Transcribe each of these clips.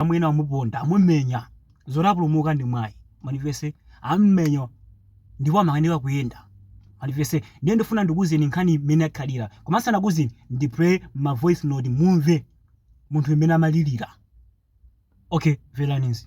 amwene amuponda amumenya zoti apulumuka ndi mwayi mwandimvetsa ammenya ndipo amakanika kuyenda mwandimvetsa ndiye ndifuna ndikuuzeni nkhani mmene yakhalira koma ndisanakuuzeni ndiplaye ma voice note mumve munthu mmene amalirira okay mverani izi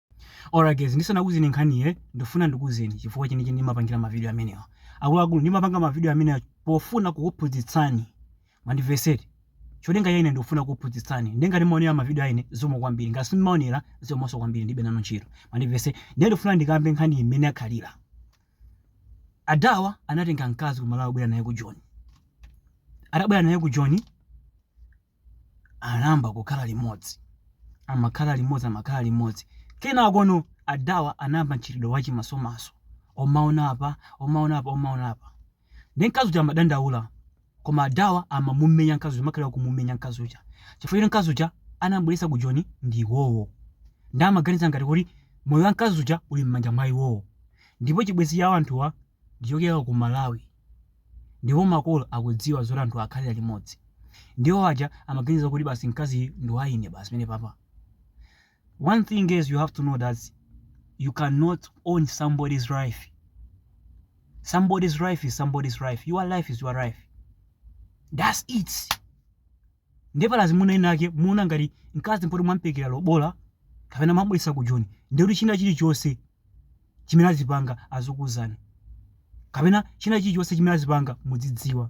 Alright guys, ndisanakuuzeni nkhaniyi, ndikufuna ndikuuzeni chifukwa chenicheni ndimapangila ma video amenewa. Akuluakulu, ndimapanga ma video amenewa pofuna kukuphunzitsani, mwandimvetsetsa. Cholinga cha ine ndikufuna kukuphunzitsani. Ndiye ngati mumaonera ma video a ine, zikomo kwambiri. Ngati simumaonera, zikomonso kwambiri, ndilibe nanu ntchito. Mwandimvetsetsa. Ndiye ndikufuna ndikambe nkhaniyi mmene yakhalira. Adawa anatenga mkazi ku Malawi kubwera naye ku Joni. Atabwera naye ku Joni, anayamba kukhala limodzi amakhala limodzi amakhala limodzi kenakono adawa anayamba mchitidwe wachimasomaso kumaona apa kumaona apa kumaona apa nde mkazi uja amadandaula koma adawa amamumenya mkazi uja amakhala kumumenya mkazi uja chifukwa choti mkazi uja anambweretsa ku joni ndi iwowo nde amaganiza ngati kuti moyo wa mkazi uja uli m'manja mwa iwowo ndipo chibwenzi cha anthuwa ndichokera ku malawi Ndipo makolo akudziwa zoti anthuwa akhalira limodzi. Nde iwo aja amaganiza kuti basi mkaziyu ndi wa ine basi pamene papa. One thing is you have to know that you cannot own somebody's life. Somebody's life is somebody's life. Your life is your life. That's it. Nde pali azimuna enaake mumaona ngati mkazi poti mwamperekera lobola kapena mwambweretsa ku joni ndekuti china chilichonse chimene azipanga azikuuzani kapena china chilichonse chimene azipanga muzidziwa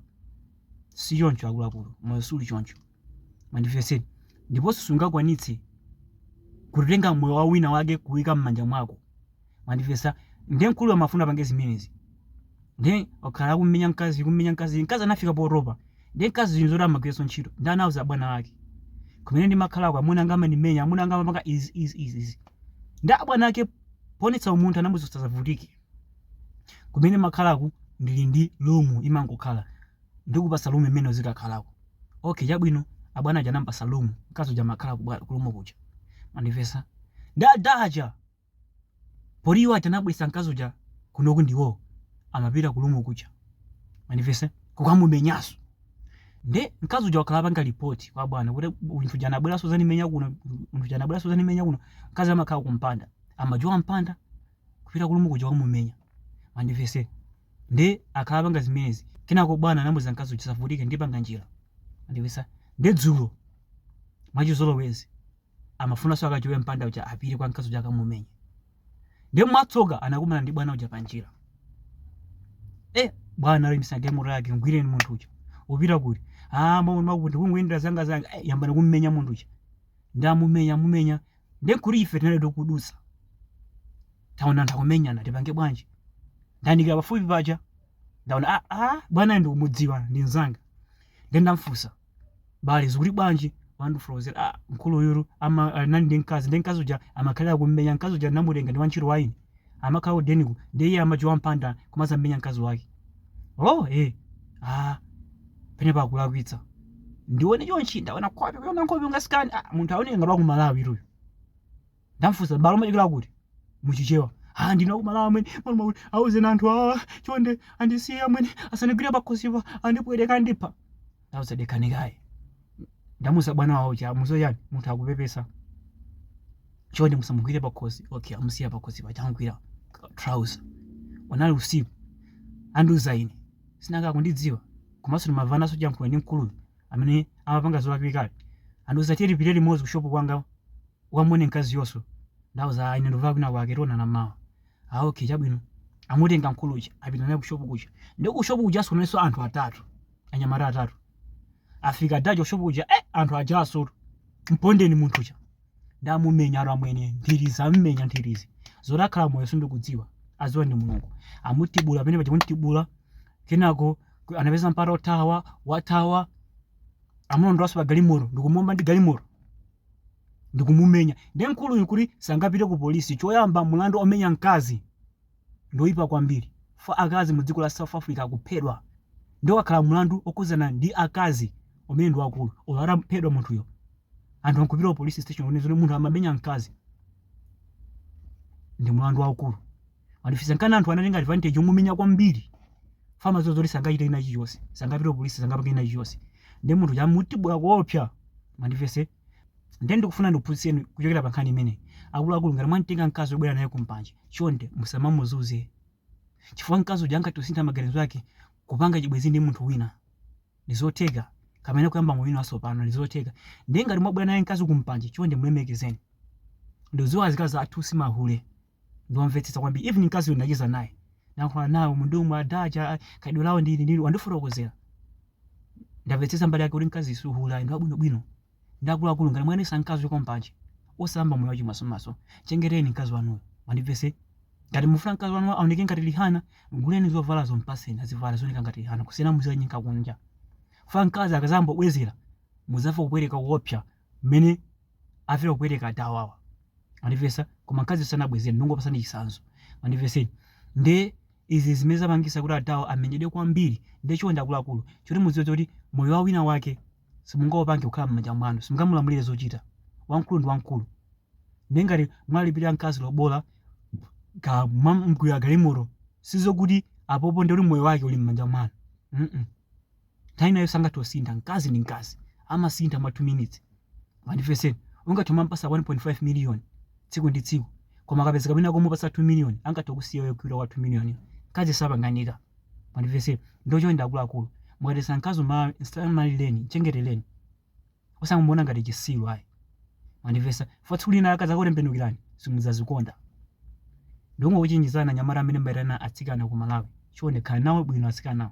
sichoncho akuluakulu moyo siuli choncho mwandimvetsa ndiponso sungakwanitse kutenga moyo wa wina wake kuwika m'manja mwako mwandimvetsa ndiye mkuluyu amafuna apange zimenezi ndiye wakhala akummenya mkazi kummenya mkazi mkazi anafika potopa ndiye mkazi zinthu zoti amagwiranso ntchito nde anauza abwana ake kumene ndimakhalako amuna anga amandimenya amuna anga amapanga izi izi izi izi nde abwana ake poonetsa umunthu anamuuza usavutike kumene ndimakhalaku ndili ndi lumu imangokhala ndikupasa lumu imeneyo uzikakhalako okay chabwino abwana aja anampasa lumu mkazi uja amakhala kubwa- kulumu kuja mwandimvetsa nde adaja poti iwo aja anabweretsa mkazi uja kunoku nde iwo amapita ku lumu kuja mwandimvetsa kukamumenyanso nde mkazi uja wakhala akupanga report kwa bwana kuti munthu uja anabweranso kudzandimenya kuno munthu uja anabweranso kudzandimenya kuno mkazi amakhala kumpanda amajowa mpanda kupita kulumu kuja kukamumenya mwandimvetsa nde akhala akupanga zimenezi kenako bwana anamuuza mkazi uja usavutike ndipanga njira mwandimvetsa nde dzulo mwachizolowezi Amafunanso akajowe mpanda uja apite kwa mkazi uja akamumenye. Ndiye mwatsoka anakumana ndi bwana uja panjira. Eh, bwana aimitsa galimoto yake mgwireni munthu uja. Upita kuti? Ah, mwa mwa kuti kungoyendera zanga zanga. Eh, yambani kummenya munthu uja. Nde amumenya amumenya. Ndiye kuli ife tinali tikudutsa. Taona anthu akumenyana tipange bwanji? Ndayandikira pafupi paja. Ndaona ah ah bwana ndikumudziwa ndi mzanga. Ndiye ndamfunsa. bale zikuti bwanji wandifotokozera ah, mkuluyu ama anali ndi mkazi nde mkazi uja amakhalira kummenya mkazi uja ndinamutenga ndi wantchito wa ine amakhala kudeniku ndiye iye amajowa mpanda kumadzammenya mkazi wake oh eh ah pamenepa akulakwitsa ndione chonchi ndaona nkhope kuona nkhope ungasikani ah, munthu aoneka ngati wakumalawitu uyo ndamfunsa bro umachokera kuti muchichewa ah ndine wa kumalawi amwene maluma kuti auzeni anthu awa chonde andisiye amwene asandigwire pakhosipa andipweteka andipha ndauza dekhani kaye ndamuuza bwana wawo uja musiyeni munthu akupepesa chonde musamugwire pakhosi okay amusiya pakhosi paja amugwira trouser unali usiku andiuza ine si nanga akundidziwa komanso ndimamvananso chankhuwa ndi mkuluyu amene amapanga zolakwikazi andiuza tiye tipite limodzi kushopu kwanga Ukamuone mkaziyonso. Ndauza, ah ine ndikupita kwina kwake tionana mmawa. Ah okay chabwino. Amutenga mkulu uja apita naye ku shop kuja. Ndiye ku shop kujanso kunalinso anthu atatu. Anyamata atatu. Afika ada aja ku shop kuja, eh anthu ajanso. Mpondeni munthu uja. Nde amumenya aro amwene ndiriza mmenya ndirizi. Zoti akhala moyo sindikudziwa. Adziwa ndi Mulungu. Amutibula pamene paja amutibula. Kenako anapeza mpata othawa, wathawa. Amulondolanso pa galimoto, ndikumuomba ndi galimoto. ndikumumenya nde mkuluyu kuti sangapite ku police choyamba mulandu omenya mkazi ndioipa kwambiri chifukwa akazi mu dziko la south africa akuphedwa nde ukakhala mulandu okhudzana ndi akazi umenewo ndi waukulu olo ataphedwa munthuyo anthu ankupita ku police station kuti munthu amamenya mkazi ndi mulandu waukulu mwandimvetsa nkana anthu anatenga advantage omumenya kwambiri chifukwa amadziwa zoti sangachite china chilichonse sangapite polisi sangapange china chilichonse nde munthu uja amutibula kuopsa mundimvetse ndiye ndikufuna ndikuphunzitseni kuchokera pa nkhani imeneyi akuluakulu ngati mwamtenga mkazi wobwera naye kumpanje chonde musamamuzuze chifukwa mkazi uja angathe kusintha maganizo ake kupanga chibwenzi ndi munthu wina ndizotheka kapena kuyamba moyo wina watsopano ndizotheka ndiye ngati mwabwera naye mkazi kumpanje chonde mulemekezeni ndikudziwa azikazi athu simahule ndiwamvetsetsa kwambiri even mkazi uyu ndacheza naye ndayankhula nawo mundiumu ada aja khalidwe lawo ndili ndili wandifotokozera ndamvetsetsa mbali yake kuti mkazi si hule ndi wabwinobwino nde akuluakulu ngati mwaitanitsa mkazi kuchoka kumpanje osayamba moyo wachimasomaso chengeteni mkazi wanuyo mundimvetse ngati mufuna mkazi wanu aoneke ngati rihanna mguleni zovalazo mpatseni azivala azioneka ngati rihanna kusiyana muzikanyenga kunja chifukwa mkazi akadzayamba kubwezera mudzamva kupweteka kuopsa mmene afera kupweteka adawawa mwandimvetsa koma mkazi sanabwezere ndingopasani chitsanzo mundimvetseni nde izi zimene zapangisa kuti adawa amenyedwe kwambiri nde chonde akuluakulu choti mudziwe kuti moyo wa wina wake simungaupange kukhala mmanja mwanu simungamulamulire zochita wamkulu ndi wamkulu nde ngati mwalipirira mkazi lobola kaya mwamgulira galimoto sizokuti apopo nde kuti moyo wake uli mmanja mwanu mm nthawi ina iliyonse angathe kusintha mkazi ndi mkazi amasintha mwa 2 minutes mundimvetseni ungathe kumampasa 1.5 million tsiku ndi tsiku koma akapezeka wina womupasa 2 million angathe kukusiya n'kulowera kwa 2 million mkazi sapanganika mundimvetseni nde chonde akuluakulu mukapeza mkazi msamalireni mchengetereni osamuona ngati chisiru ayi mwandimvetsa for tsiku lina akadzakutembenukirani simudzazikonda ndingokuchenjezani anyamata amene mumayitana atsikana ku malawi chonde khalani nawo bwino atsikanawo